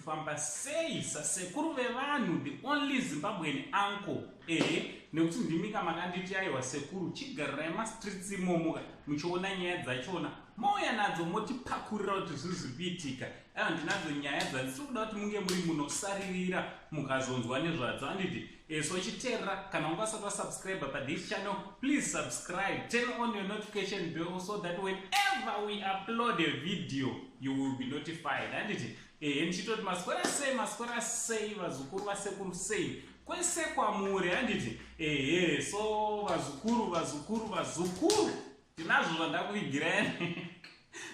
kufamba sei sasekuru vevanhu the only zimbabwean uncle ehe nekuti ndimika makanditi aiwa sekuru chigarirai mastreets imomoka muchiona nyaya dzachona mouya nadzo motipakurira kuti zvinhu zviri kuitika aiwa ndinadzo nyaya dzandisiri kuda kuti munge muri munosaririra mukazonzwa nezvadzo anditi Yes, uchiterera kana unga usati wasubscribe pa this channel please subscribe turn on your notification bell so that whenever we upload a video you will be notified handiti ehe ndichitoti maswera sei maswera sei vazukuru vasekuru sei kwese kwamuri handiti ehe so vazukuru vazukuru vazukuru tinazvo zvandakuvigirai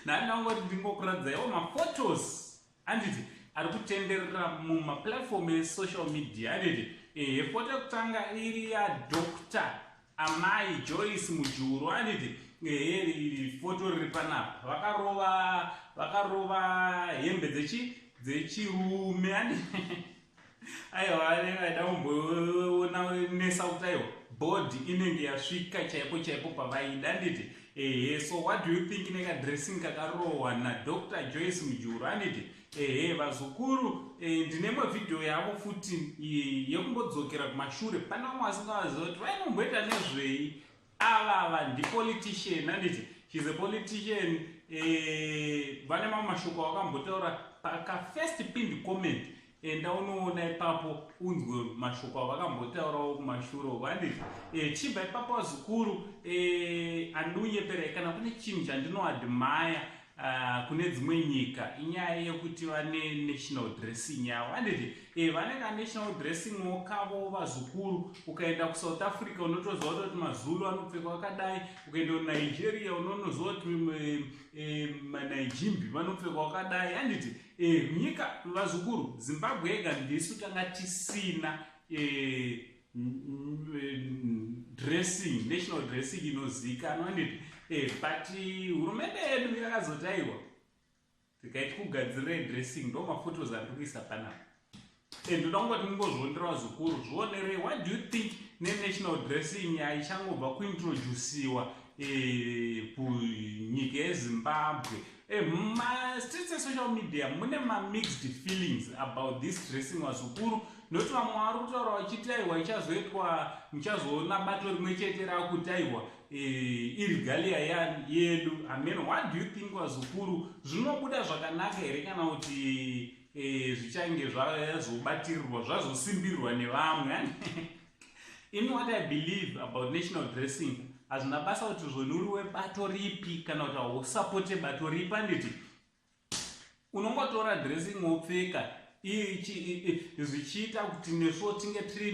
nani nangoti ndingokuradzaiwo maphotos Handiti ari kutenderera mumaplatform esocial media handiti ehe pota yekutanga iri yadoctor amai joyce mujuru handiti ehe foto riri panapa vakarova vakarova hembe dzechi dzechirume handiti aiwa aida kumboona nesa kuti aiwa body inenge yasvika chaipo chaipo pavaida anditi ehe so what do you think nekadressing kakarohwa nadr joyce mujuru anditi ehe vazukuru eh, ndine mavhidhiyo yavo futi yekumbodzokera kumashure pane vamwe vasingawaziva kuti vainomboita nezvei avava ndipolitician anditi shes a politician eh, vane mamwe mashoko awakambotaura pakafirst pind comment enda unoona ipapo unzwe mashoko avakambotaurawo kumashure uko anditi e, eh, chibva ipapo vazukuru e, eh, andiunyeperai kana kune chinhu chandinoadmaya Uh, kune dzimwe nyika inyaya yekuti vane national dressing yavo anditi e eh, vane kanational dressing wo kavo vazukuru ukaenda kusouth africa unotoziva kutoti mazulu anopfekwa akadai ukaenda kunigeria unonoziva kuti eh, eh, manijimbi vanopfekwa akadai anditi e nyika vazukuru zimbabwe yega ndisu tanga tisina e, dressing national dressing inozivikanwa handiti eh, but hurumende yedu yakazotaiwa tikaiti kugadzirira dressing ndo mafotos andiri kuisa panapa and ndoda kungoti mungozvionerawo zvikuru zvionerei what do you think nenational dressing yaichangobva kuintroduciwa eh, kunyika yezimbabwe Eh, ma streets esocial media mune mamixed feelings about this dressing wazukuru noti vamwe vari kutaura vachiti aiwa ichazoitwa muchazoona bato rimwe chete rakutaiwa eh, irigalia yedu amen what do you think wazukuru zvinobuda zvakanaka here kana kuti eh, zvichange zvazobatirirwa zvazosimbirwa nevamwe Imi what I believe about national dressing hazvina basa kuti zvoni uri webato ripi kana kuti hausapote bato ripi anditi unongotora dressing wopfeka zvichiita kuti nesuwo tinge tiri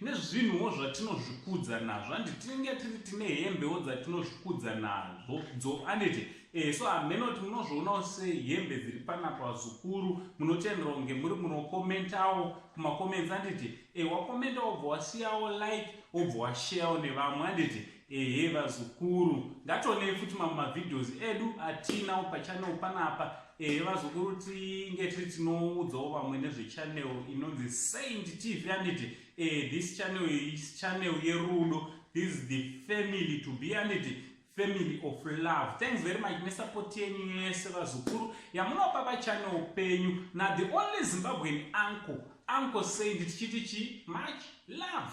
nezvinhuwo zvatinozvikudza nazvo handiti tinenge tiri tine hembewo dzatinozvikudza nazvo dzo anditi e so hameno kuti munozvionawo sehembe dziri panapa zukuru munotenderwa kunge muri munokomentawo kumakoments anditi Eh wakomenta wobva wasiyawo like wobva washarewo nevamwe handiti ehe vazukuru ngationei futi mamwe mavideos edu atinawo pachanel panapa ehe vazukuru tinge tiri tinoudzawo vamwe nezvechanel inonzi saint tv handiti ehe this channel is channel yerudo this is the family to be handiti family of love thanks very much nesupport yenyu yese vazukuru yamunopa vachane upenyu na the only zimbabwean uncle uncle saint tichiti chi much love